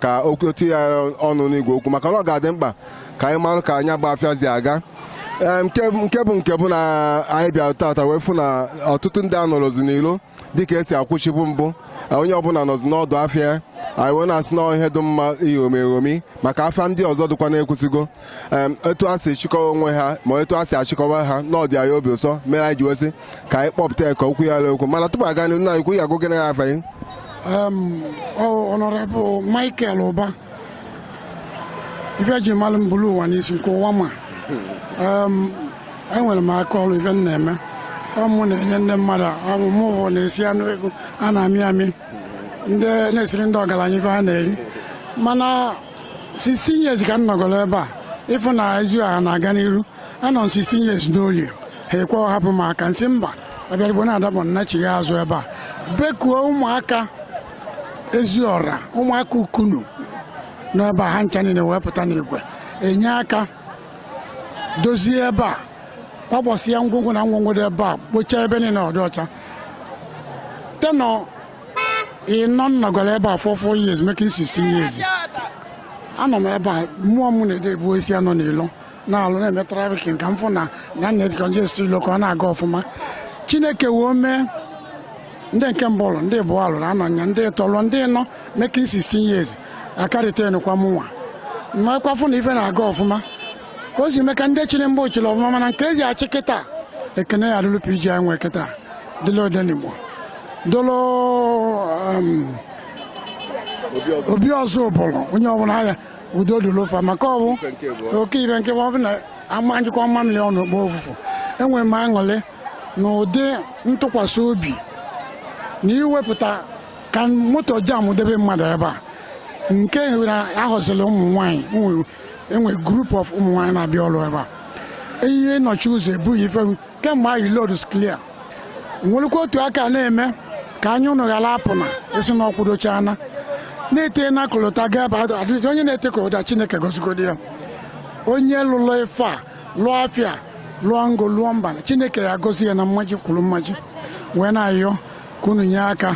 ka okwu eti ya ọnụ n'igwe okwu maka na ọ ga-adị mkpa ka anyị marụ ka nya bụ afịa si aga Ee, nke nke bụ nke bụ na anyị bịara tata wee fụ na ọtụtụ ndị anọrọzi n'ilo dịka e si akwụchibu mbụ Ee, onye ọbụla nọzi n'ọdụ afịa ya. anyị wee na-asị na ọ ihe dị mma iṅomi eṅomi maka afịa ndị ọzọ dịkwa n'Ekwusigo em, etu a si chịkọwa onwe ha ma etu a si achịkọwa ha na ọ dị anyị obi ụsọ mere anyị ji wee sị ka anyị kpọpụta ya ka okwu ya lụọ okwu mana tupu a gaa n'ihu nna anyị ukwu ya agụgịrị ya afa gị Um, oh, Honorable Michael Uba. Ife e ji malụ m buru ụwa n'isi nke ụwa ma. Um, enwere m aka ọrụ ife m na-eme. Ọ mụ na-enye ndị mmadụ ọ mụ mụwa na-esi anụ eghu a na-amị amị. Ndị na-esiri ndị ọgaranya ife ha na-eri. Mana 16 years ka m nọgoro ebe a ị fụ na Eziọra na-aga n'iru anọ m 16 years n'olie ha ekwe hapụ m aka m sị mba abịarigbo na-adabọ m nachighị azụ ebe a bekuo ụmụaka Eziọra ụmụaka Ukunu n'ebe a ha ncha niile wee pụta n'igwe enye aka dozie ebe a kwapụsịa ngwongwo na ngwongwo dị ebe a kpochaa ebe niile ọ dị ọcha tenure ịnọ m nọgoro ebe a four four years making 16 years anọ m ebe a mmụọ m na-ede ebu esi anọ n'ilo na-alụ na-eme traffic ka m fụ na a na-edecongest ilo ka ọ na-aga ọfụma chineke wee mee ndị nke mbụ lụọ ndị ịbụa lụrụ anọ nya ndị ịtọ lụ ndị ịnọ making 16 years akarịta enukwa mụnwa mmakwafụ na ife na-aga ọfụma ka o si mee ka ndị chịrị mgbe ọ chịrị ọfụma mana nke e ji achị kịta ekene ya dịlụ PG anyị nwee kịta dịlụ Odenigbo dịlụ um, Obi Ọzụbụlụ onye ọbụla ha ya udo dịlụ fa maka ọ bụ oke ibe nke ọ bụ na ama nyụkọọ mamịrị ọnụ ọ gbọọ ụfụfụ enwere m aṅụrị na ụdị ntụkwasị obi na iwepụta ka moto jam debe mmadụ ebe a nke na ahọziri ụmụ nwaanyị e nwe group of ụmụ nwaanyị na-abịa ọrụ ebe a ihe nọchi ụzọ ebughị ife kemgbe ahụ road is clear nwerekwa otu a ka na-eme ka anya unu ghara apụ n'ezi na ọkwụdochana na-ete na kolota gaba adịrịzi onye na-ete kolota chineke gozigodi ya onye lụlọ ife a lụọ afịa lụọ ngo lụọ mba chineke ya gozi ya na mmaji kwuru mmaji wee na-ayọ ka unu nye aka